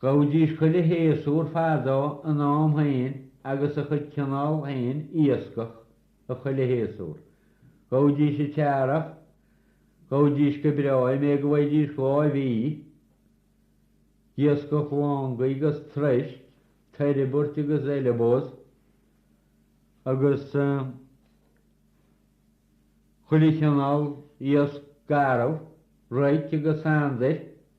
Ghabhaidís chuile shéasúr fadó ina am féin agus a chuid cineál féin iascach a chuile shéasúr. Ghabhaidís an t-earrach, ghabhaidís go breá an méid go bhfaighidís láimh í, d'iascach langaí agus troisc, turbaird agus haileabós agus chuile chineál iasc garbh, roic agus sandair.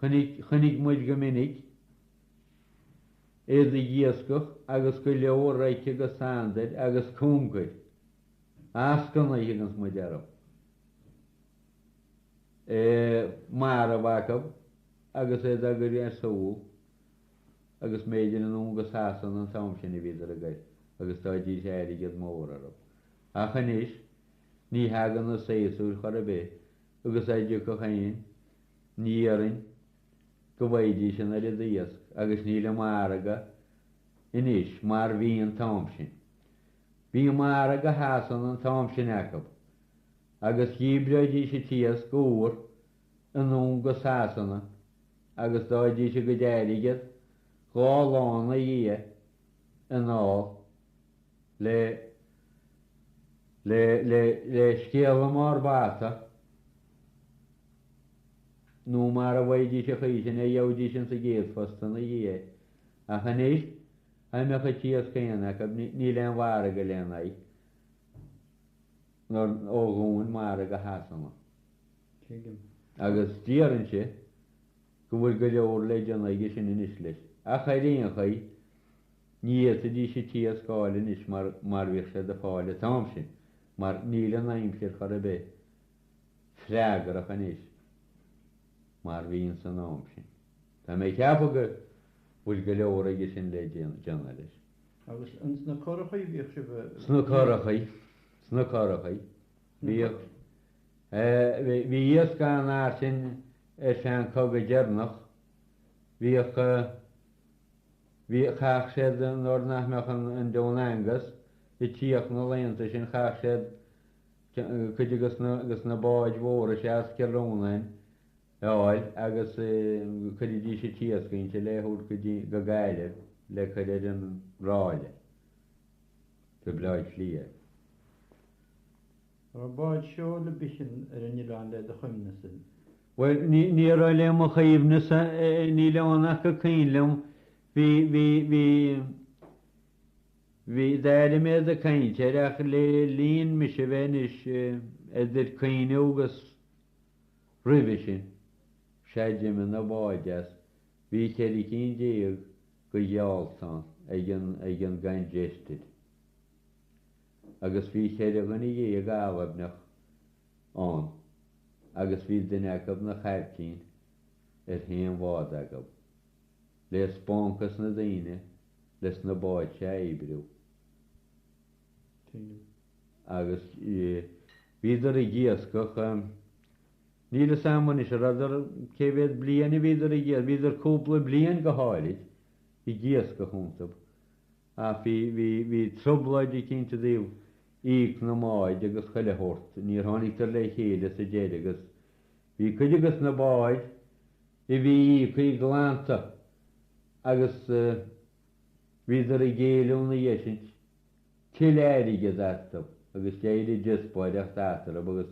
Chonaic muid go minic iad ag iascach agus go leor roic agus sandair agus congair eascannaí a thuganns muid orthu marbh acu agus iad á gcur ar siúl agus mb'fhéidir anonn go Sasana an t-am sin a bhíodar á gcur agus d'fhaighidís airgead mór orthu. Ach anois ní thagann na séasúir chor ar bith agus dá dtiocfadh fhéin ní dhéarfainn go bhfaighidís an oiread iasc agus níl an margadh anois mar bhí an t-am sin. Bhí margadh Shasana an t-am sin acu agus dhíbreoidís an t-iasc úr anonn go Sasana agus d'fhaighidís a gcuid airgid dhá lá ina dhiaidh anall. le le le le scéala i mbarr bata nó mara bhfaighidís an chaoi sin é gheobhaidís insa gcéad phost ina dhiaidh é. Ach anois, dá mbeadh an t-iasc féin acu, níl aon mhargadh lena aghaidh nuair ó dhúin margadh Shasana. Tuigim. Agus déarfainnse go bhfuil go leor le déanamh aige sin anois leis. Ach ar aon chaoi, Ní fhéadfaidís an t-iasc a fháil anois mar mar bhíodh siad a fháil an t-am sin, mar níl an aimsir chor ar bith freagrach anois mar bhí ins an am sin. Tá mé ag ceapadh go bhfuil go leor aige sin le déanamh leis. Agus ins na currachaí a bhíodh sibh a bheith? Sna currachaí, sna currachaí. Bhíodh, eh, bhí iasc ann ansin san gcogadh deireanach, bhíodh. Bhí, chaith siad, nuair nach mbeadh an, an Dún Aengus ag tíocht na laethanta sin, chaith siad cuid agus na, agus na báid mhóra seo as Cill Rónáin a fháil agus chuiridís an t-iasc inti le thabhairt go dtí, go Gaillimh le cur ar an ráille go Baile Átha Cliath. An raibh báid seoil ar bith ansin ar an oileán le do chuimhnesa. Bhuel, ní raibh le mo chuimhnesa, níl ann ach go cuimhin liom, bhí, bhí, bhí, bhí, d'airigh mé iad ag caint air ach le linn mise bheith anois idir cuimhne agus roimhe sin, sea d'imigh na báid as, bhí ceithre cinn déag go gheáltaí ann ag an, ag an gCongested. agus bhí cheithre dhuine dhéag Albanach ann agus bhí duine acab 'na chaiptín ar chaon bhád acab. Le spáint gos na daoine leis na báid seo a oibriú. Agus bhíodar ag iascach, níl 'fhios a'm anois a' rabhdar, cé mhéad bliain a bhíodar ag iascach, bhíodar cúpla bliain go háirid ag iascach iontab Ach bhí, bhí, bhí trioblóid eicínt i dtaobh íoc na mbáid agus chuile shórt. Níor tháinigdar le chéile sa deire agus bhí cuide gos na báid a bhí íocthaí glanta agus bhíodar ag éileamh ina dhiaidh sin tuilleadh airgid astu agus d'éirigh díospóireacht eatarthu agus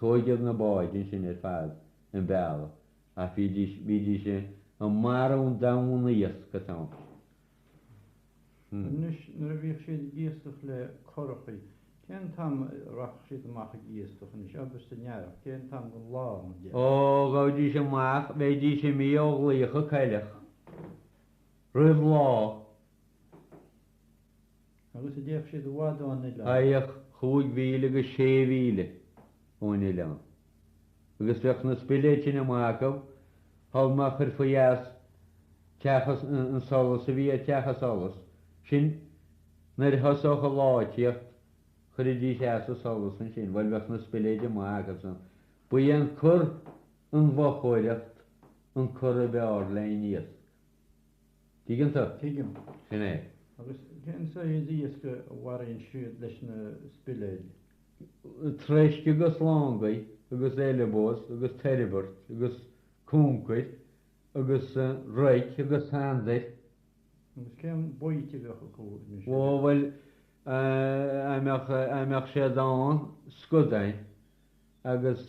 tóigeadh na báid ansin ar fad chun bealaigh ach bhídís, bhídís ag marú an domhain iasc an t-am sin Anois, nuair a bhíodh siad ag iascach le currachaí, cén t-am a rachadh siad amach ag iascach anois, abair san earrach, cén t-am den lá, mar dhea? Ó, ghabhaidís amach, bheidís imithe ó ghlaofadh an coileach, roimh lá. agus an dtéadh siad i bhfad ón oileán. Théadh chúig mhíle go sé mhíle ón oileán agus bheadh na spiléid sin amuigh acu shul má chuirfí as teach an solas a bhí ar teach an solas sin nuair a thosódh an lá ag tíocht, chuirfidís as an solas ansin, bhuel bheadh na spiléid amuigh acusan. Ba í an cur, an mhochóireacht, an cur ab fhearr le haghaidh an iasc. Tuigeann tú? Tuigim. Sin é. Agus cén saghas iasc a mharaíonn siad leis na spiléid? Troisc agus langaí agus eileabós agus turbaird agus cúncair agus roic agus sandair. Agus cén baoite a bheadh acu anois? Ó, bhuel, a' mbeadh, a' mbeadh siad ann, scudainn agus.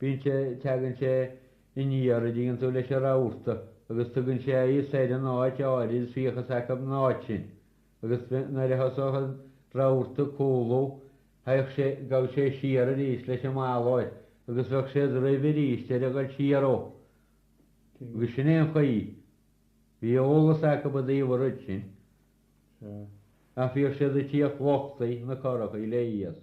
Bíonn sé, teagann sé aniar an dtuigeann tú leis an rabharta agus tugann sé a fhios ar an áit áirid bhíodh a fhios acu an áit sin. Agus nuair a thosódh an rabharta ag cúlú, théadh sé, gabhadh sé siar arís leis an mallmhuir agus bheadh siad roimhe arís ar a dhul siar dhó. Agus sin é an chaoi, bhí eolas acu i dtaobh an rud sin. Ach bhíodh siad ag tíocht luchtaithe, na currachaí, le iasc.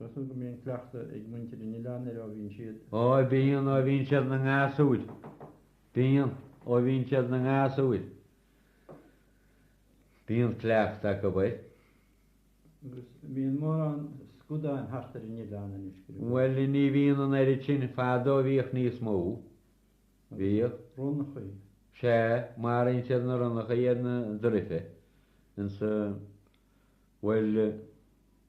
Measaim go mbíonn cleachtadh ag muintir an oileáin air ó bhíonn siad. Ó bíonn, ó bhíonn siad ina ngasúir. Bíonn, ó bhíonn siad ina ngasúir. Bíonn cleachtadh acu air. Agus bíonn mórán scadáin thart ar an oileán anois, go raibh. Bhuel, ní bhíonn an oiread sin, fadó bhíodh níos mó. Bhíodh. Ronnachaí. Sea, maraíonn siad na ronnachaí ar na druife, insa, bhuel.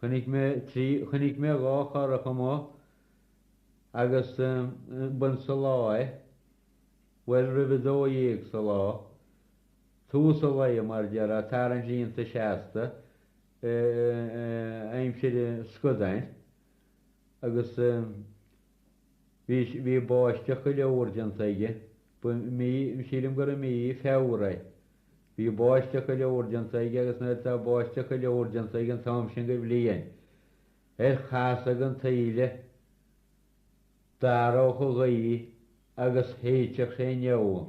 Chonaic mé trí, chonaic mé dhá churach amuigh agus b'in sa lá é, bhuel roimh a dó dhéag sa lá, tús an lae mar déarfá, tarraingt líonta seasta aimsir scadáin agus. Bhí báisteach go leor déanta aige, ba mí, sílim gur i mí Feabhra é. Bhí báisteach go leor déanta aige agus nuair atá báisteach go leor déanta aige an t-am sin de bhliain, ar chasadh an taoille, d'athródh an ghaoth agus shéidfeadh sé an fheoil.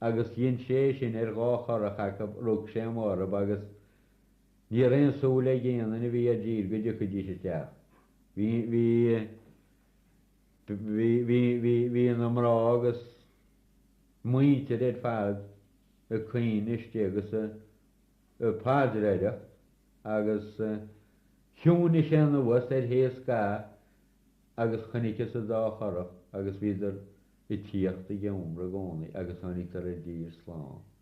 Agus dhein sé é sin ar dhá churach acu, rug sé amuigh orthu agus ní raibh aon súil ag aon duine a bhí i dtír go dtiocfaidís isteach. Bhí na mná agus muintir ar fad ag caoineadh istigh agus ag paidreoireacht agus chiúnaigh sé anuas ar feadh scaitheamh agus chonaiceas an dá churach agus bhíodar ag tíocht ag iomramh i gcónaí agus tháinigeadar i dtír slán.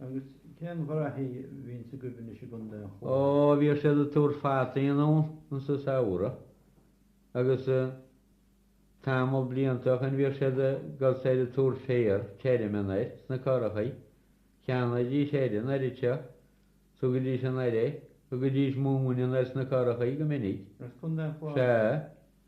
Agus cén ghraithí bhíonns agaibh anois i gCondae an Chláir? Ó, bhíodh siad ag tabhairt fataí anonn sa samhradh agus tamall blianta ó shoin bhíodh siad ag dul soir ag tabhairt féar tirim anoir sna currachaí. Cheannaídís oiread an oiread seo, thugaidís anoir é, thugaidís móin anoir sna currachaí go minic. As Condae an Chláir? Sea.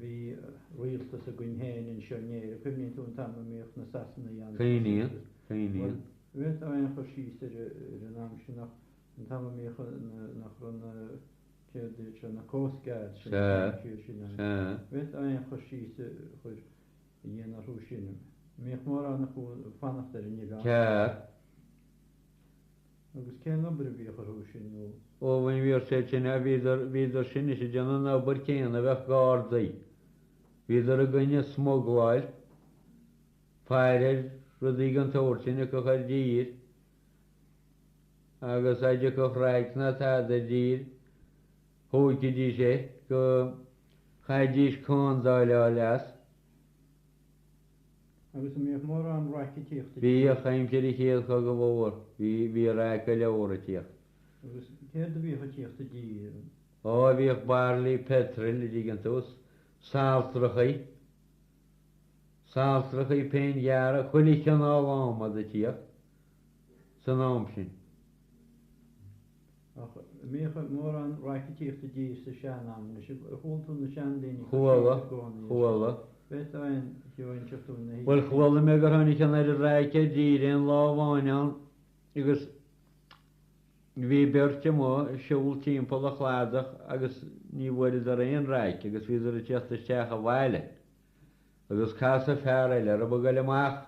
Bhí rialtas againn féin anseo in Éirinn. Cuimhníonn tú an t-am a mbíodh na Sasanaigh ann? Cuimhníonn, cuimhníonn. Bhuel, bhféadfá aon chur síos ar an am sin ach an t-am a mbíodh na, nach raibh na, céard iad seo, na Coast Guards sin, an t-am siar sin ann. Bhféadfá aon chur síos a chur, a dhéanamh orthu sin. Mbíodh mórán acu ag fanacht ar an oileán. Ceathrar. Agus cén obair a bhíodh orthu sin nó? Ó bhain bhíodh siad sin a, bhíodar, bhíodar sin is ag déanamh an obair céanna a bheadh gardaí, bhíodar i gcoinne smugláil, faire ar rudaí den tsórt sin a thiocfadh i dtír agus dá dtiocfadh raic ná tada i dtír, thógfaidís é go, chaithfidís condáileáil as. agus an mbíodh mórán raic a tíocht aici. Bhíodh aimsir an Chéad Chogaidh Mhóir. Bhí raic go leor a tíocht. Agus céard a bhíodh a tíocht i dtír? Ó, bhíodh bairillí peitril i dtír ar dtús, saltrachaí, saltrachaí péin dhearg, chuile chineál adhmad a tíocht. san am sin. Ach an mbíodh mórán raice a tíocht i dtír sa seanam, anois ar chuala tú na seandaoine ag cur síos i gcónaí air sin. Bhféadfá aon cheo a inseacht dúinn ina thaobh sin. Bhuel, chuala mé gur tháinig an oiread raice i dtír aon lá amháin ann agus bhí beirt amuigh ag siúl timpeall an chladach agus ní bhfuaireadar aon raic agus bhíodar ag tíocht isteach abhaile agus casadh fear eile orthub ag goil amach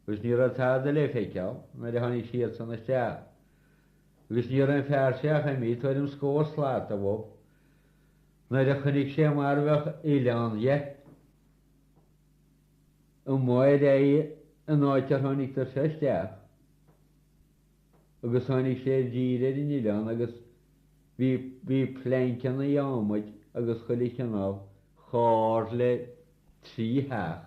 agus ní raibh tada le feiceáil nuair a tháinig siadsan isteach, agus ní raibh an fear seo ach imithe tuairim scór slat uathub nuair a chonaic sé mar bheadh oileán dhe amuigh ar aghaidh an áit ar tháinigdar seo isteach, agus tháinig sé i dtír ar an oileán agus bhí, bhí pleainceanna adhmaid agus chuile chineál chomh hard le trí theach.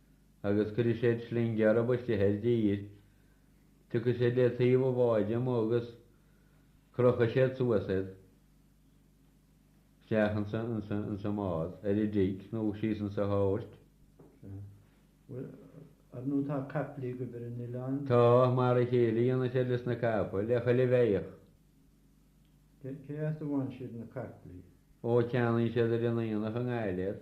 agus cuirfidh siad sling orthub istigh i dtír. Tiocfaidh siad le taobh an bháid amuigh agus crochfaidh siad suas iad isteach insa mbád, ar an deic, nó síos insa hold. Bhuel, ar ndóigh tá caiple agaibh ar an oileán. Tá, mar a chéile, a dhéanann siad leis na caiple, le chuile bheithíoch. Cé as a bhfaigheann siad na caiple? Ó, ceannaíonn siad ar an aonach i nGaillimh.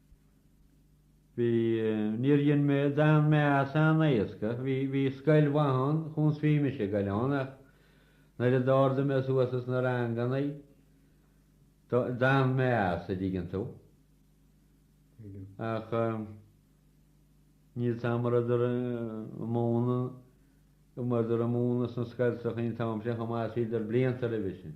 Bhí, níor rinne mé, d'fhan mé as an-éasca, bhí, bhí scoil mhaith ann, chúns bhí mise ag goil ann ach nuair a d'ardaigh mé suas as na ranganna, d'fhan mé as, a' dtuigeann tú. Ach níl fhios a'm an rabhadar ag múnadh, an rabhadar ag múnadh sna scoltachaí an t-am sin chomh maith is bhíodar blianta roimhe sin.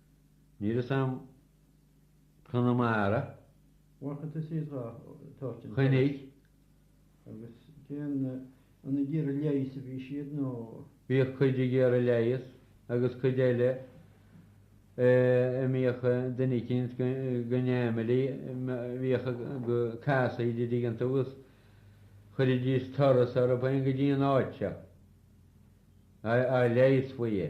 Níl fhios a'm Conamara, Chainnigh. Bhíodh cuid ag iarraidh leigheas agus cuid eile a mbíodh duine eicínt go neamhairí, bhíodh go casadh idir dtuigeann tú agus chuiridís turas orthu féin go dtí an áit seo, dá leigheasfaí é.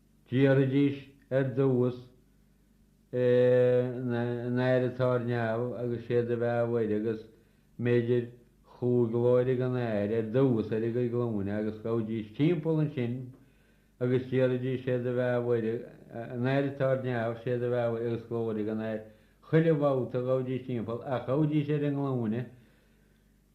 Déarfaidís ar dtús Ár nAthair atá ar neamh agus Sé do bheatha a Mhuire agus mb'fhéidir chúig Glóir don Athair ar dtús ar a gcuid glúine agus ghabhaidís timpeall ansin agus déarfaidís Sé do bheatha a Mhuire, Ár nAthair atá ar neamh, Sé do bheatha a Mhuire agus Glóir don Athair. Chuile bhabhta ghabhaidís timpeall ach ghabhaidís ar a nglúine.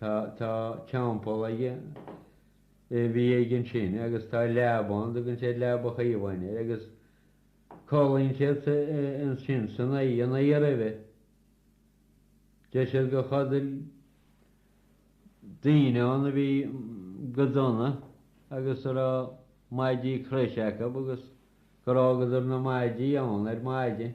Tá teampall aige a bhí aige ansin agus tá leaba ann a dtugann siad Leaba Chaomháin air agus codlaíonn siad ansin san oíche, an oíche roimhe. Deir siad gur chodail daoine ann a bhí go dona agus a raibh maidí croise acu agus gur fhágadar na maidí ann ar maidin.